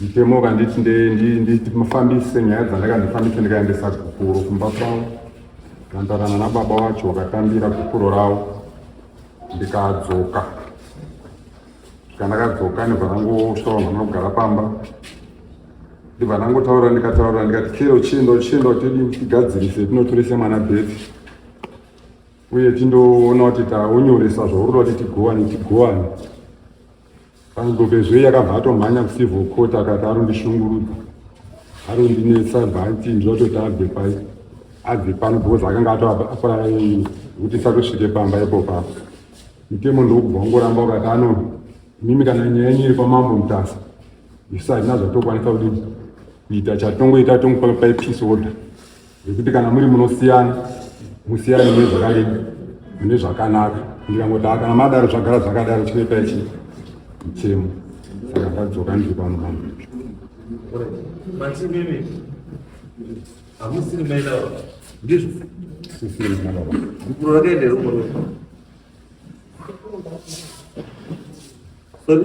mutemo ukanditi ndifambise nyaya dzandaka ndifambise ndikaendesa gupuro kumba kwavo ndandarana nababa wacho wakatambira gupuro ravo ndikadzoka saka ndakadzoka ndibva ndangosvika vanhu vanogara pamba ndibva ndangotaura ndikataura ndikati chero chindo chindo tidi tigadzirise tinotorese mwana bethi uye tindoona kuti taunyoresa zvauri kuti tiguwane tiguwane Pangovezve yakabva atomhanya kucivil court akati arondishungurudza arondinetsa bhanti ndinototi abve pai abve pano because akanga atoaparara yei kuti satosvike pamba ipo papo mutemo ndokubva ungoramba ukati ano mimi kana nyaya yenyu iri pamambo mutasa isu hatina zvatokwanisa kudii kuita chatongoita tongopa pai peace order Zvekuti kana muri munosiyana musiyane mune zvakareba mune zvakanaka ndikangodaa kana madaro zvagara zvakadaro chinoita ichi chemo saka ndadzoka ndiri pano pano hamusiri maida ndizvo sisiri maida gukuro rakaenda rumwe rumwe sorry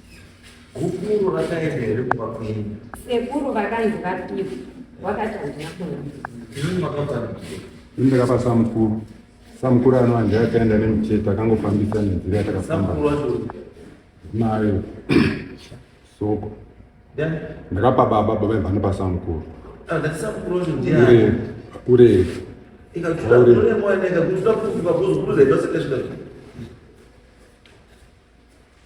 Gukuru rakaenda here kuba kwenyu? Sekuru vakanzi vapihwa, wakati handina kuona. Ini makabva ini ndakapa samukuru samukuru ano andi akaenda nemuchete akangofambisa nenzira yatakafamba nayo soko ndakapa baba baba ibva nepa samukuru ure ure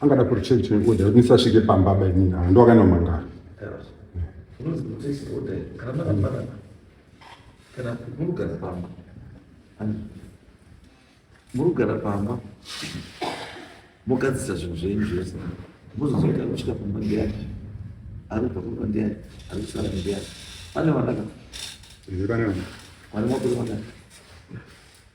angada kuri change change order kuti ndisasvike pamba baba inini haa ndo akaenda kumangara murugara pamba mogadzisa zvinhu zvenyu zvese mozozoita kusvika pamba ndiyani ari kubva kumba ndiyani ari kusara ndiyani pane vanaka vane makore vanaka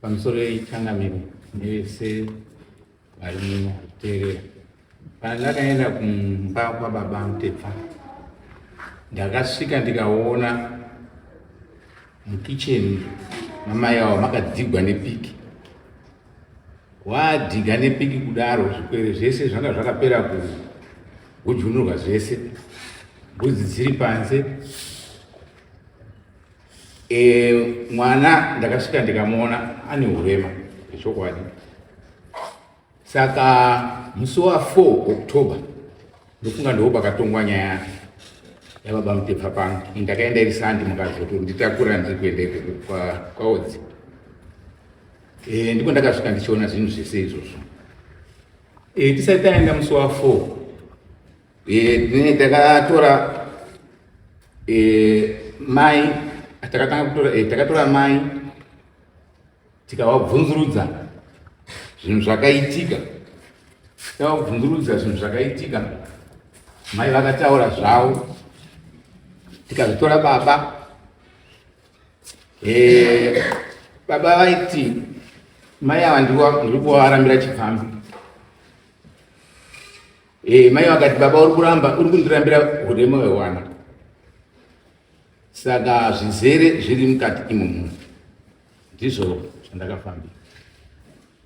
pamusoro yechangamire nevese variteerera kana ndakaenda kumba kwababa mutepfa ndakasvika ndikaona mukicheni mamai avo makadzigwa nepiki Wadhiga nepiki kudaro zvikwere zvese zvanga zvakapera kujunurwa zvese, mbudzi dziri panze. E, mwana ndakasvika ndikamuona ane urema zvechokwadi. Saka musi wa 4 October ndofunga ndoo pakatongwa nyaya yake yababa Mutepfa pano. Ndakaenda iri sandi mukazoto nditakura ndiri kuenda ikoko kwaodzi kwa Eh, ndipo ndakasvika ndichiona zvinhu zvese izvozvo eh, tisati taenda musi wa four eh, takatora mai takatanga kutora takatora mai tikavabvunzurudza zvinhu zvakaitika tikavabvunzurudza zvinhu zvakaitika mai vakataura zvavo tikazvitora baba Eh, baba vaiti mai ava ndiri kuvarambira chipfambi eh, mai vakati baba uri kuramba uri kundirambira urema hwewana saka zvizere zviri mukati imomo ndizvo zvandakafambira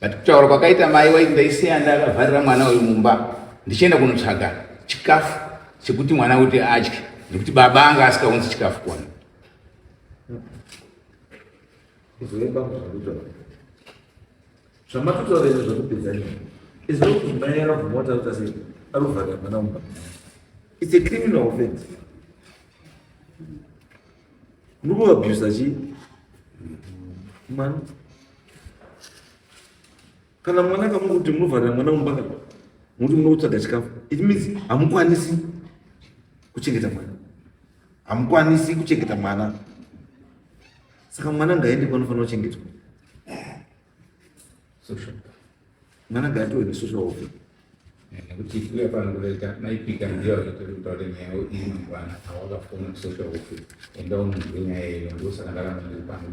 but kutaura kwakaita mai waiti ndaisiya ndakavharira mwana uyu mumba ndichienda kunotsvaga chikafu chekuti mwana kuti adye nekuti baba anga asikaunzi chikafu kuwana zvamatutaura izvo zvekupedza izvo kuti mai akabvuma kuti akuta sei arikuvharira mwana mumba its a criminal offense muri kuabusa chii mwana kana mwana akamuka kuti munovharira mwana mumba kana muti muno kutsvaga chikafu it means hamukwanisi kuchengeta mwana hamukwanisi kuchengeta mwana saka mwana ngaende kwanofanira kuchengetwa Mwana gato ne social worker. Eh, nekuti iwe panongoita maipika ndiyo vachitori kutaura nyaya iyi mangwana awakafona social worker enda unonzwe nyaya iyo ndosaka ndaramba ndiri pano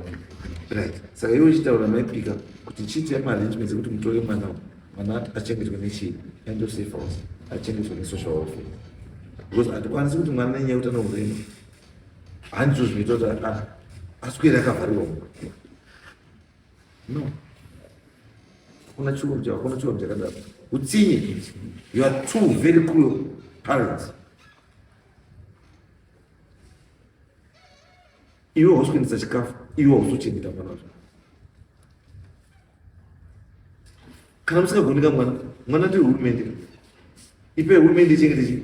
right saka iwe uchitaura maipika kuti chiti yamaarrangements ekuti mutore mwana mwana achengetwe nechii end of safe house achengetwe nesocial worker because hatikwanisi kuti mwana nenyaya yekuti anohurema handizvo zvinoita kuti aswere akavharirwa mukati No. Hakuna chuo cha hakuna chuo cha kadada. Utsinye. You are two very cruel parents. Iwe usikuendesa chikafu, iwe usuchengeta mwana wacho. Kana musingagoni ka mwana, mwana ndiye hurumende. Ipe hurumende ichengete chii?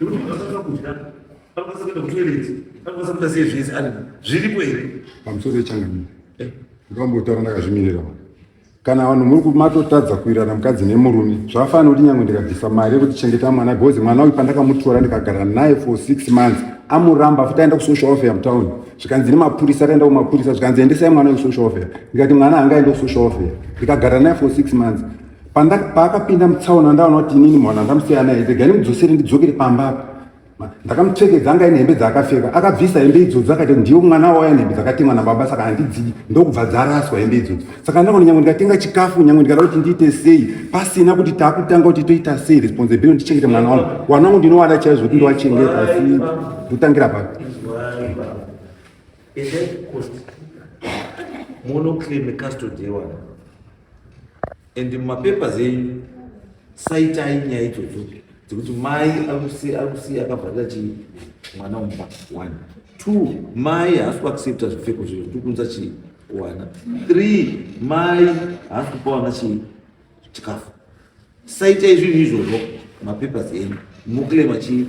Nekuti munhu asatanga kudya, anokwanisa kuenda kutoireti, anokwanisa kuita sei zvese ani zviripo here? Pamusoro pechangamire, eh? ndikambotaura ndakazvimirira vanhu kana vanhu muri kumatotadza kuirana mukadzi nemurume zvafana kuti nyangwe ndikabvisa mari yekuti chengeta mwana because mwana uyu pandakamutora ndikagara naye for six months amuramba futi aenda kusocial welfare mutown zvikanzi nemapurisa akaenda kumapurisa zvikanzi endesai mwana wekusocial welfare ndikati mwana anga aenda kusocial welfare ndikagara naye for six months paakapinda mutsaona ndaona kuti inini mwana ndamusiya naye regai ndimudzosere ndidzokere pamba apa ndakamupfekedza anga ine hembe dzaakapfeka akabvisa hembe idzodzo akati ndiwo mwana wauya nehembe dzakatengwa nababa saka handidzii ndokubva dzaraswa hembe idzodzo saka ndangoti nyangwe ndikatenga chikafu nyangwe ndikada kuti ndiite sei pasina kuti taakutanga kuti toita sei responsibility ndichengete mwana wangu wana wangu ndinovada chaizvo kuti ndovachengeta asi ndotangira papi munoclaim custody yewana and mumapapers enyu saitai nyaya idzodzo dzekuti mai akusi akavharira chii mwana umba one two mai haasi kuaccepta zvipfeko zviro tikuunza chii kuwana three mai haasi kupa wana chii chikafu saitai zvinhu izvozvo mapapers enyu muclaima chii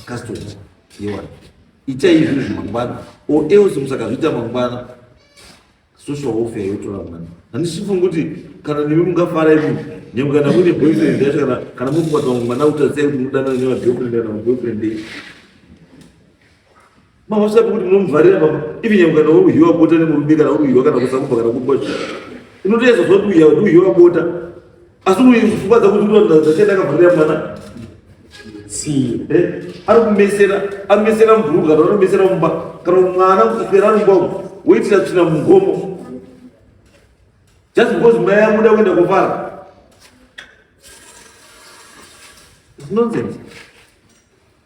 custom yewana itai izvozvo mangwana or else musakazviita mangwana social welfare yotora mwana handisi kufunga kuti kana nemi mungafara imi nyangwe kana muine boyfriend yacho kana kana muri kukwata vamwe mwana kutarisai kuti mudanana nevagirlfriend kana maboyfriend ei mavasati kuti munomuvharira baba ivi nyangwe kana uri kuhiwa bota nemurume kana uri kuhiwa kana kusakuba kana kuba inotoyeza zva kuti uya kuti uhiwa bota asi pfungwa dzakuziuaachadakavharira mwana eh? ari kumesera amesera mubhuruka kana anomesera mumba kana mwana kuswera mumba umu woitira tsvina mugomo just because mai amuda kuenda kuvara nonsense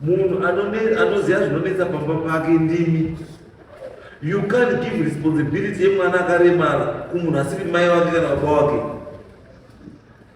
munhu anoziva zvinonetsa pamba pake ndimi you can't give responsibility yemwana akaremara kumunhu asiri mai wake kana baba wake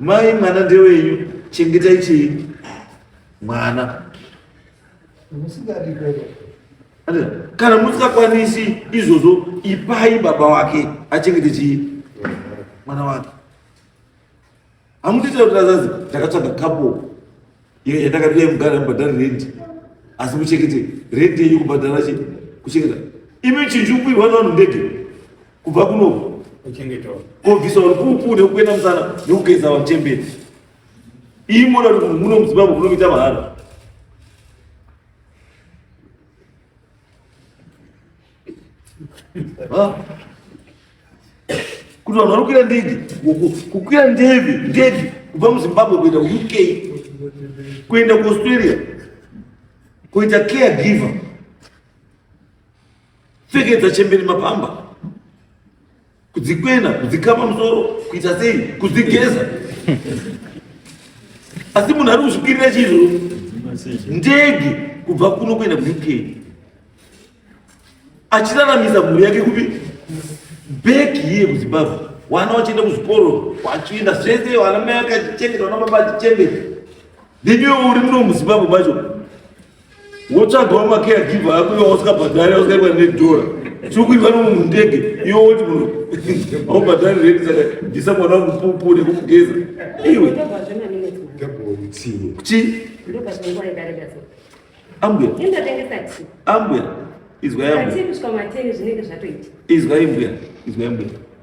Mai mwana ndewenyu, chengetai chii mwana. Kana musingakwanisi izvozvo, ipai baba wake achengete chii mwana wake. Hamutiitira kuti azazi ndakatsvaga kapo Iyo yandakati dai mugara mubhadhari rendi asi muchekete rendi yenyu kubhadhara chi kuchengeta imi chinjukwirwa nevanhu ndege kubva kunoku kuchengetwa kobvisa rupupu nekukwena musana nekugeza vanhu chemberi iyi mona kuti muno muzimbabwe munokuita mahara kuti vanhu vari kukwira ndege kukwira ndeve ndege kubva muzimbabwe kuenda kuuk kuenda kuaustralia kuita care giver pfekedza chemberi mapamba kudzikwena kudzikama musoro kuita sei kudzigeza asi munhu ari kuzvikirira chizvo ndege kubva kuno kuenda kuuk achiraramisa mhuri yake kupi beki iye kuzimbabwe wana wachienda kuzvikoro wachienda zvese wana mai akachichengeta wana baba achichengeta neniwe uri muno muzimbabwe macho wotsvagawo macaregiver ako iwe wasikabhadhari wasikaiwa nedhora sikuiva nomunhu ndege iwe woti munhu aubhadhari redi saka bvisa mwana wamupupu nekumugeza iwe chi ambuya ambuya izwai ambuya izwai mbuya izwai mbuya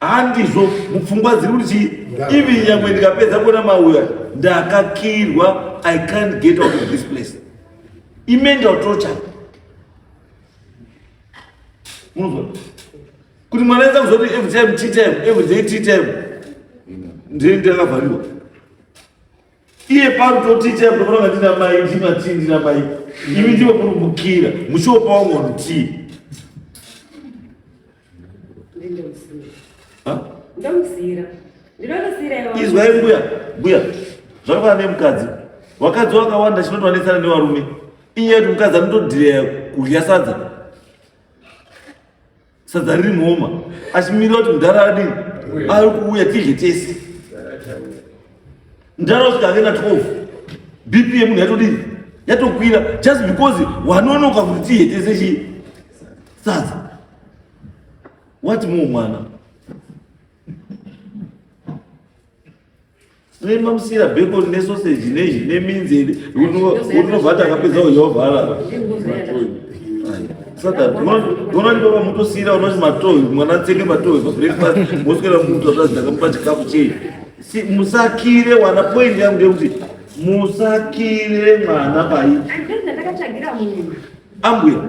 handizvo mupfungwa dziri kuti chii even nyangwe ndikapedza kuona mauya ndakakirwa i can't get out of this place imental torture munozwa kuti mwana enza kuzoti every time tea time every day tea time ndiri ndakavhariwa iye pari toti time ndofanira ndina mai ndima tii ndina mai imi ndivo kurumbukira muchiopawo ngoni tii izwai mbuya mbuya zvakafanana nemukadzi vakadzi vakawanda chinotovanetsana nevarume inyaya yekuti mukadzi anotodhireya kudya sadza sadza riri muhoma achimirira kuti mudhara adii ari kuuya tidye tese mudhara usvika ake na 12 bp yemunhu yatodii yatokwira just because wanonoka kuti tidye tese chii Sadza. What more mwana? Rema musira beko ne sausage ne ne minzi uno uno vata kapedza uyovhala. Saka ndona ndi baba muto sira uno matoyi mwana tsenge matoyi for breakfast moskera muto zvazda kamupa chikafu chei. Si musakire wana point yangu ndekuti musakire mwana pai. Andenda ndakachagira munhu. Ambuya.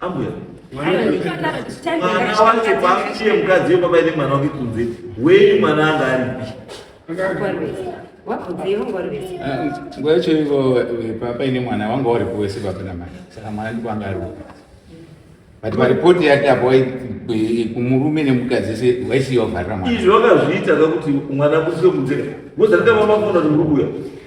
Ambuya. Mwana wacho pakuchiye mukadzi wepapa ine mwana wake kunze. Weyi mwana anga aripi. Nguva yacho ivo papa ine mwana wanga uri kuwese baba namai. Saka mwana ndipo anga ari upi. But maripoti yake apo kumurume nemukadzi se waisiya vharira mwana. Izvi wakazviita kuti mwana kusike kunze. Ngozi rakaita mama kuona kuti muri kuya.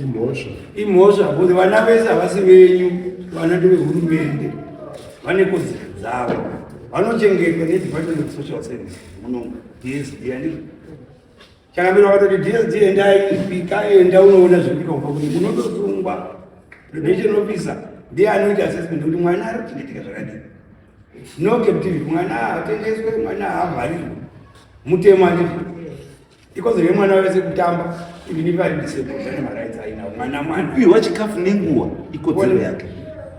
imhosva imhosva kuti vana vese havasi venyu vana ndevehurumende vane kodzero dzavo vanochengetwa nedepartment of social service muno dsd andii chakamira vakatoti dsd endai pika enda unoona zvekuita kupa kuti munotosungwa prevention officer ndiye anoita assessment kuti mwana ari kuchengeteka zvakadii no captivity mwana hatengeswe mwana haavharirwe mutemo andii ikodzero yemwana wese kutamba even if ari disabled ane marights ainawo mwana mwana kupiwa chikafu nenguva ikodzero yake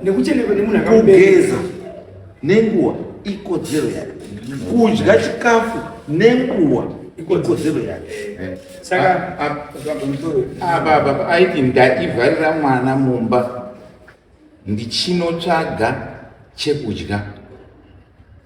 nekuchenekwa nemunhu akageza nenguva ikodzero yake kudya chikafu nenguva ikodzero yake eh, saka ababa aiti ndaivharira mwana mumba ndichinotsvaga chekudya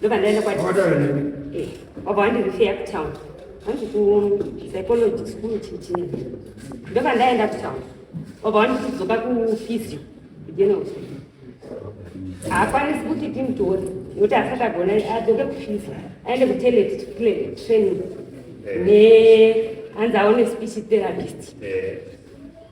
ndoba ndaenda kwati eh, wabva wandirifeya kutown hanzi kupsychology school chichii ndoba ndaenda kutown wabva wandikudzoka kufizio kujenauso haakwanisi kuti timutore nokuti asati agona adzoke kufizio aende kutelet training eh. ne hanzi aone speech therapist eh.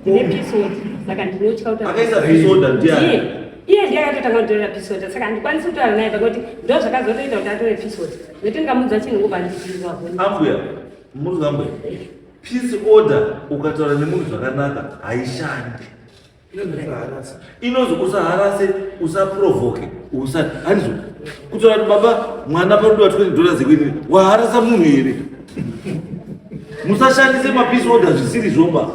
ndine pisoda saka ndinotya kutaakaisa pisoda ndiye iye ndiye akatotanga kutorera pisoda saka handikwanisi kutaura naye pakuti ndo zvakazotoita kuti atore pisoda nekuti ndingamudza chinhu ngobva ndiirirwa ambuya muri ambuya peace order ukataura nemunhu zvakanaka haishandi inonzi usaharase usaprovoke usa handizo kutaura kuti baba mwana parudiwa 20 dollars ekuinini waharasa munhu here musashandise mapisi oda zvisiri zvoba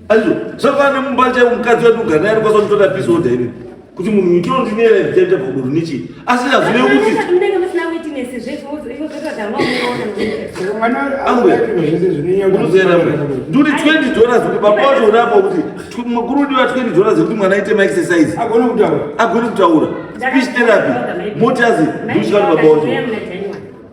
handizo zvakafanana nemumba chaivo mukadzi wedu uganaye anokwanisa kutoda pisi oda ini kuti munhu itondineyera ndichaita pakuduru nechii asi hazvive kuti nduri 20 dollars kuti baba wacho unapo kuti mukuru ndiwa 20 dollars kuti mwana aite maexercise agone kutaura speech therapy moti azi ndusvika kuti baba wacho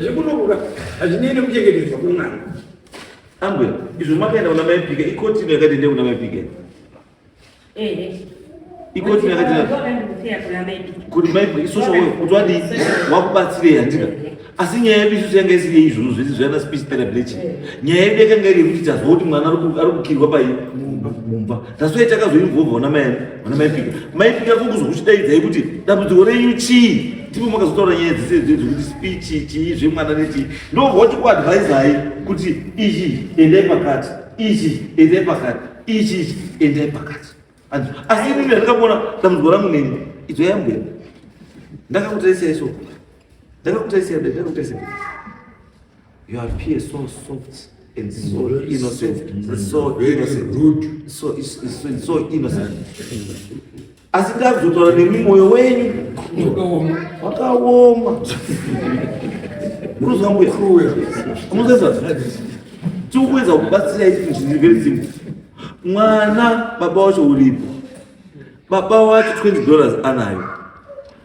zvekunokuka hazvinei nekuchengetedzwa kwemwana ambwe izvo makaenda kuna maipika ikotino yakati ende kuna maipika ikoti kuti maibwe isusu wewe kuti wadi wakubatsirei handika asi nyaya yedu isusu yanga isiri yeizvozvo zvese zvana speech therapy nyaya yedu yakanga iri yekuti tazwa kuti mwana ari kukirwa pai mumba That's why takazoinvolva vana mai vana mai pika. Mai pika kukuzokuchidaidzai kuti dambudziko renyu chii? Ndipo makazotaura nyaya dzese idzi dzekuti speech chii zvemwana nechii. Ndovoti kuadvisai kuti ichi endai pakati. Ichi endai pakati. Ichi ichi endai pakati. And asi mimi ndakaona dambudziko rangu nini? Idzo yambweni. Ndakakutarisai so. Ndakakutarisai ndakakutarisai. You appear so soft and so Very innocent. soft, man. It's so Very innocent. rude. So it's, it's, it's so innocent. Asi ndakuzotwara nemi moyo wenyu Wakaoma. wakaoma. Unozwa mbuya? Cruel. Unozwa tiri kuedza kubatsira isu zviri very simple. Mwana baba wacho uripo. Baba wacho 20 dollars anayo.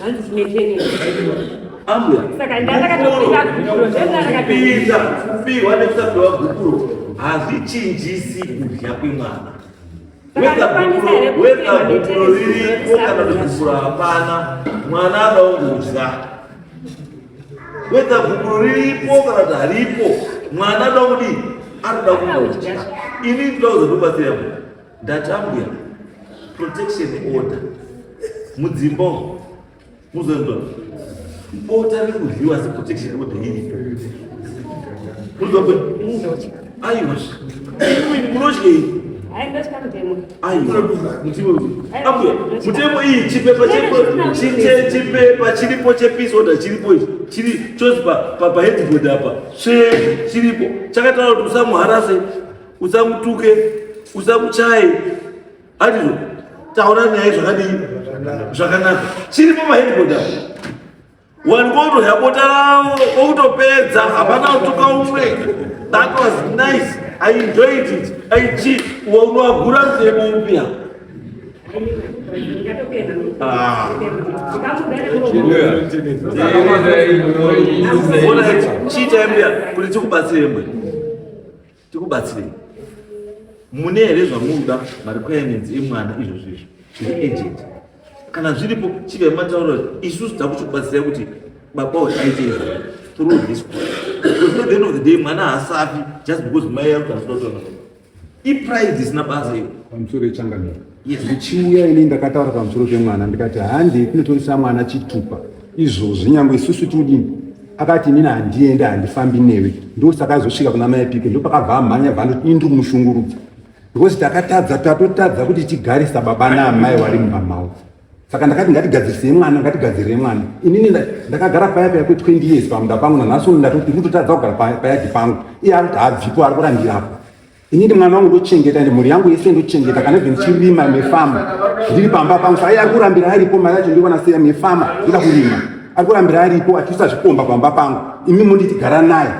Hanzi tine training. Amwe. Saka ndakatokuita gupuro zvendakapinda kupihwa nekusapiwa gupuro hazvichinjisi kudya kwemwana. Weka gupuro ririko kana kuti gupuro hapana mwana adaongudya. Weka gupuro riripo kana kuti haripo mwana adaongudii anoda kungodya. Ini ndinozokubatsira mwana. Ndatambwa protection order mudzimba muzondo bota rekudyiwa seprotection order iri muzondo aiwa munodyei mutemo iyi chipepa chipepa chiripo chepeace order chiripo ichi chiri chose paheadboard apa chiripo chakataura kuti usamuharase usamutuke usamuchaye handizvo taura nyaya zvakadii zvakanaka chiri pamaheadquota wanikoto yapota ravo kwokutopedza hapana kutuka umwe that was nice i enjoyed it aichi waunoagura nzemo mpya Ah. Ona chiita mbya kuti tikubatsire mwe. tikubatsirei mune here zvamunoda marequirements emwana izvo zvizvo zviri agent kana zviripo chivai mataura isusu takuchikubatsirai kuti baba uyu aite izvo through this because at the end of the day mwana haasafi just because mai yakuti asinotoa ipride isina basa iyo pamusoro yechangamira zvichiuya ini ndakataura pamusoro pemwana ndikati handi kunotorisa mwana chitupa izvozvi nyangwe isusu tiudini akati inini handiende handifambi newe ndosaka azosvika kuna mai pike ndopakabva amhanya vanoti indri kumushungurudza because takatadza tatotadza kuti tigarisa baba naamai wari mumba mavo saka ndakati ngatigadzirisei mwana ngatigadzirire mwana inini ndakagara paya paya kwe20 years pamunda pangu nanhasi uno ndatoti kutotadza kugara payadi pangu iye akuti habvipo ari kurandirapo Inini mwana wangu ndochengeta ende mhuri yangu yese ndochengeta kana even chirima nefama ndiri pamba pangu saka ari kurambira aripo mari yacho ndiri kuona seya nefama ida kurima ari kurambira aripo atiisa zvikomba pamba pangu imi munditi gara naye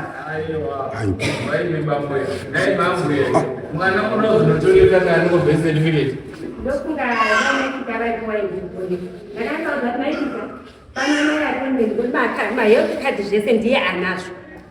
Panamai akonde ndibata, mahealth card zvese ndiye anazvo.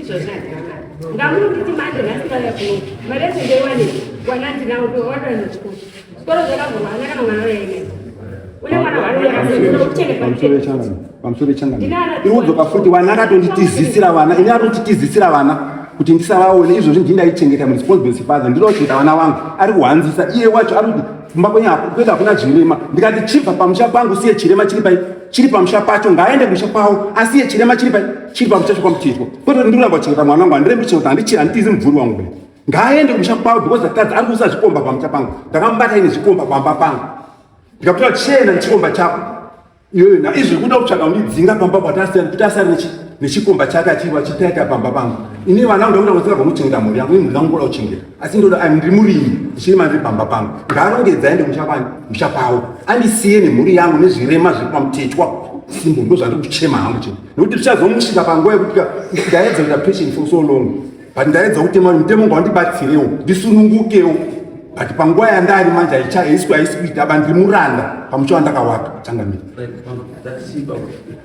izvozvo handinamari ngamunonditi manje nhasi vaya kuno mari yacho ndeiwane wana ndinawo wadoana chikoro chikoro zvakavhurwa hana kana mwana wayaine une mwana waaiudzoka futi wana akatonditizisira vana ini atonditizisira vana kuti ndisavaone izvozvi ndii ndaichengeta muresponsibility father ndinochengeta vana vangu ari kuhanzisa iye wacho ari kuti kumba kwenyu kuenda hakuna chirema ndikati chibva pamusha pangu siye chirema chiri pai chiri pamusha pacho ngaaende musha kwavo asiye chirema chiri chiri pamusha chokwamuchizwa kwete kuti ndiramba kuchengeta mwana wangu handirembi kuchengeta handichiri handitizi mubvuri wangu kudai ngaaende kumusha kwavo because atadza ari kuisa zvikomba pamusha pangu ndakamubata ine zvikomba pamba pangu ndikakutora chena nechikomba chako iyoyo na izvi kuda kutsvaga kundidzinga pamba kuti asiyana kuti asiyana nechikomba chake achiri achitaita pamba pangu ini vana ndakuda kutsira pamuchengeta mhuri yangu imhuri yangu kuda kuchengeta asi ndoda ah, ndiri murimi ndichine mari pamba pangu ngaarongedza aende musha kwani musha kwavo andisiye nemhuri yangu nezvirema zviri pamutetwa simbo ndo zvandiri kuchema hangu chete nokuti tichazomusvika panguva yekuti ndaedza kuita patient for so long but ndaedza kuti mari mutemo ngo wandibatsirewo ndisunungukewo but panguva yandari manje haichaiswi haisi kuita aba ndiri muranda pamusha wandakawaka changamira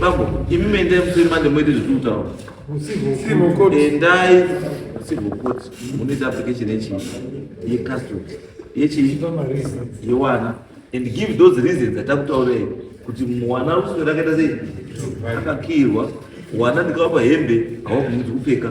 Babu, imi mendai musema ndemoita zvekutaura. Endai civil court munoita application yechi yecustody yechi yewana and give those reasons atakutaurei kuti mwana ruswe rakaita sei akakirwa wana ndikavapa hembe hawakumuti kupfeka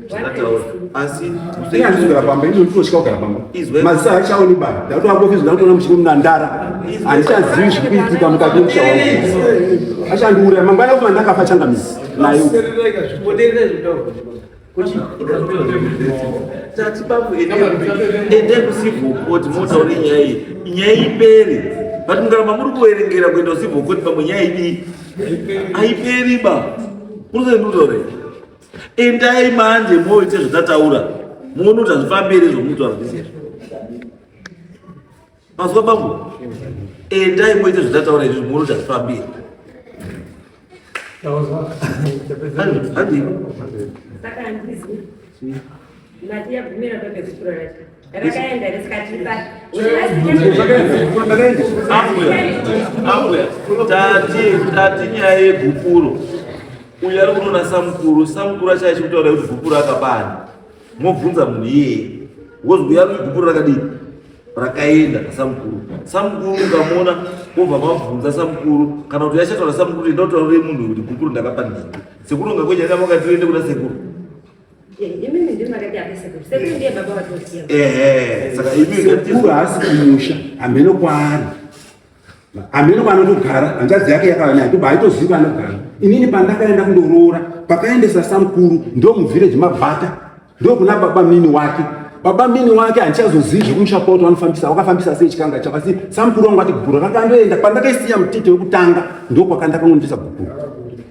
asi ndikazvigara pamba ini ndotosvika kugara pamba maziso haichaoni bani ndakuti wangofizwa ndakutoona muchini munandara handichazivi zviri kuitika mukati memusha wangu achandiuraya mangwana kuma ndakafa changamisi nayo tati bambo ende kusivhokoti motaure nyaya iyi nyaya ipere but mukaramba muri kuverengera kuenda kusivhokoti bambo nyaya idii haiperi ba unosaindutore Endai manje moite zvatataura muone kuti hazvifambi here zvomuti hazvisi here mazwa bambo endai moite zvatataura izvi muone kuti hazvifambi here Hadi. Hadi. Mati yagumira bebe kutura racho. Rakaenda risikatipa. Ambuya, tati tati nyaya yegupuro. Uyu ari kunoona samukuru, samukuru achaya chikutaura kuti gupuro akapani. Mobvunza munhu iyeye. Wozwi yari gupuro rakadini? Rakaenda samukuru. Samukuru ukamuona wobva mabvunza samukuru kana kuti yachataura samukuru enda utaurire munhu kuti gupuro ndakapani. Sekuru ungakwenyanya vakati uende kuna sekuru. haasi kumusha hameno kwaari hameno kwaanotogara hanzvadzi yake yakava naye toba haitozivi kwaanogara inini pandakaenda kundoroora pakaendesa samukuru ndo muvhireji mabhata ndo kuna baba mini wake baba mini wake handichazozivi zvekumusha kwavo kuti vanofambisa wakafambisa sei chikanga chavo asi samukuru wangu ati gukuru rakandoenda pandakaisiya mutete wekutanga ndo kwakandakangondisa gukuru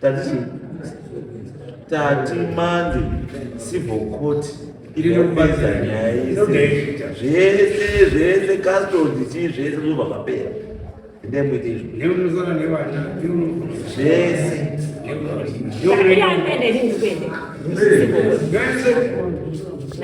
Tati tati mande civil court inopedza nyaya yese zvese zvese custody chii zvese zvinobva zvapera endai muite izvo zvese